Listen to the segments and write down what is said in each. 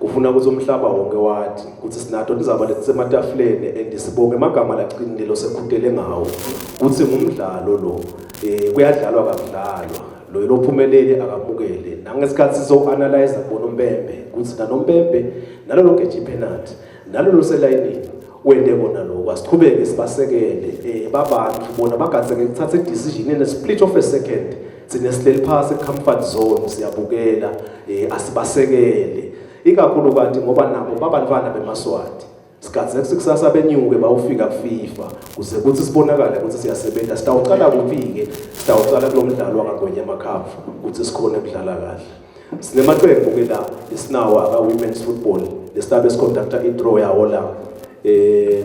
Kufuna ukuthi umhlaba wonke wathi ukuthi sinato lizaba letisematafuleni and sibonge emagama laqinile losekhutele ngawo ukuthi ngumdlalo lo eh kuyadlalwa kakudlalwa lo lophumelele akamukele nangesikhathi sizoanalyze bona umbembe ukuthi nanombembe nalolo geje penalty nalolo selayinini wende kona lokho asiqhubeke sibasekele eh babantu bona bagatseke kuthatha i decision in a split of a second Thina sileli phasi comfort zone siyabukela eh asibasekele ikakhulu kanti ngoba nabo babantwana bemaswati sikhathi sekusikusasa benyuke bawufika kuFIFA kuze kuthi sibonakale ukuthi siyasebenza sitawuqala kuphi-ke sitawuqala kulo mdlalo wangagwenya amakhavu ukuthi sikhone kudlala kahle sinemaqembu-ke la esinawo aka-women's football lesilabe siconducta i-draw yawo la um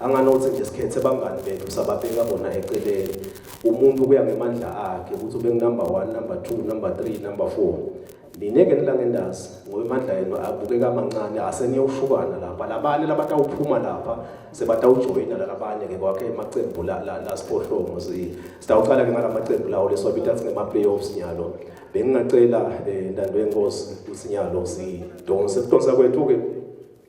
Anganothi nje sikhethe bangani bethu sababeka bona eceleni. Umuntu kuya ngemandla akhe ukuthi ube number 1, number 2, number 3, number 4. Mina ke nilanga ndazi ngoba imandla yenu abukeka amancane aseniyowushukana lapha. Labanye labatawuphuma lapha sebatawujoyina labanye ke kwakhe emaqembu la la, la siphohlongo si. Sitawuqala ke ngalamaqembu lawo leswabita athi ngema playoffs nyalo. Bengingacela eh, intando yenkosi usinyalo si donse. Donsa kwethu ke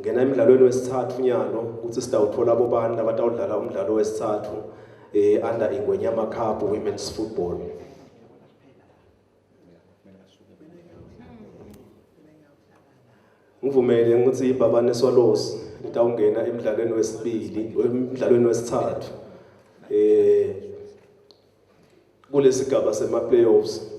Ngena emdlalweni wesithathu nyalo ukuthi sitawuthola abobani labatawudlala umdlalo wesithathu eh under Ingwenyama Cup Women's Football. Ngivumele ukuthi ibabane Swallows litawungena emdlalweni wesibili emdlalweni wesithathu eh kulesigaba sema playoffs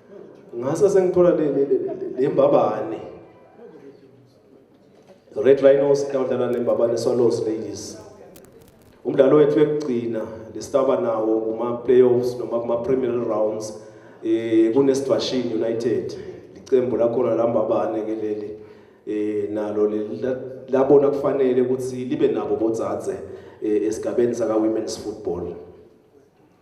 ngase sengithola le le le le mbabane red rhinos kawudlala nembabane swallows ladies umdlalo wethu ekugcina lesitaba nawo kuma playoffs noma kuma premier rounds eh kunesibashini united licembu lakhona lambabane ke leli eh nalo labona kufanele ukuthi libe nabo bodzadze eh, esigabeni saka women's football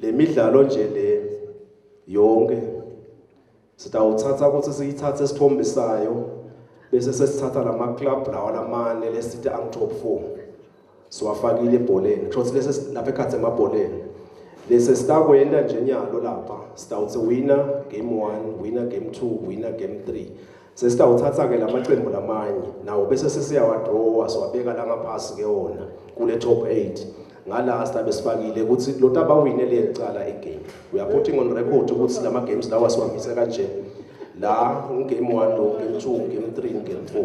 Le midlalo nje le yonke sitawuthatha ukuthi siyithathe isithombe sayo bese sesithatha lama club lawa lamane lesithi ang top 4 siwafakile ebholeni kusho ukuthi lesi lapha ekhathi emabholeni lesi sitakwenda nje nyalo lapha sitawuthi wina game 1 wina game 2 wina game 3 Sesitawuthatha-ke la maqembu lamanye nawo bese sesiyawadrowa siwabeka la ngaphasi ke wona kule top 8 ngala silabe sifakile ukuthi lo tabawine leli cala igame we are putting on record ukuthi lama games lawa siwamisa kanje la ungame 1 lo game 2 game 3 game 4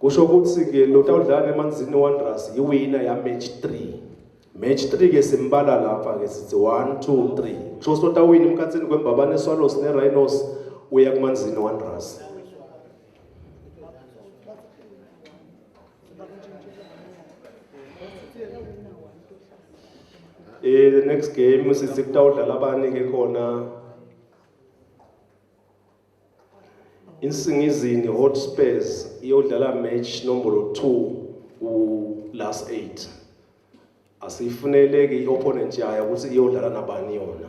kusho ukuthi-ke lo tawudlala emanzini wanderers yiwina yamatch three match three ke simbala lapha-ke sithi one two three kusho ukuthi otawina emkhathini kwembabane swallows ne-rhinos uya kumanzini wanderers eh the next game sithi kutawudlala abani-ke khona Insingizini Hotspurs iyodlala match nombolo 2 ku last 8. Asifuneleke iopponent yayo ukuthi iyodlala nabani yona.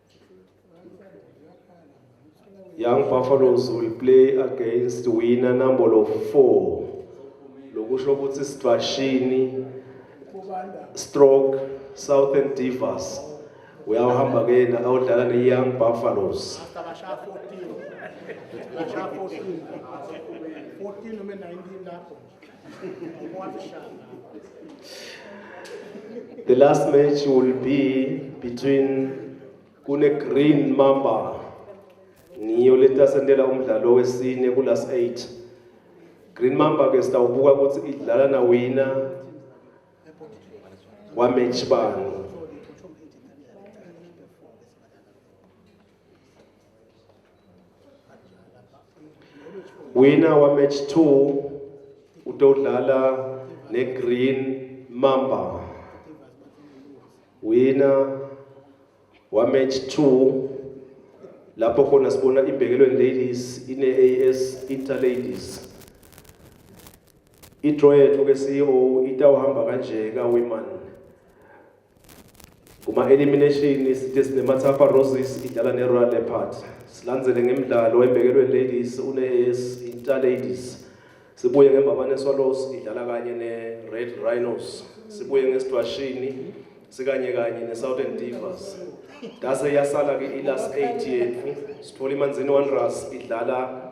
Young Buffaloes will play against winner number 4 lokusho ukuthi Sibashini Stroke Southern Divas uyahamba ke na awudlala ne Young Buffaloes The last match will be between kune Green Mamba ngiyo letasendela umdlalo wesine ku last 8 Green Mamba ke sitawubuka ukuthi idlala na wina wa match bani Winner wa match 2 utodlala ne Green Mamba. Winner wa match 2 lapho khona sibona ibhekelweni ladies ine AS Inter Ladies. I-draw yethu ke CEO itawuhamba kanje ka women Kuma-elimination isithe sineMathafa Roses idlala neRoyal Leopard. Silandzele ngemidlalo embekelweni Ladies une-AS Intsha Ladies. Sibuye ngeMbabane Swallows idlala kanye ne-Red Rhinos. Sibuye ngesidwashini sikanye kanye ne-Southern Divas. Ngase yasala-ke i-last eight yethu. Sithole iManzini Wanderers idlala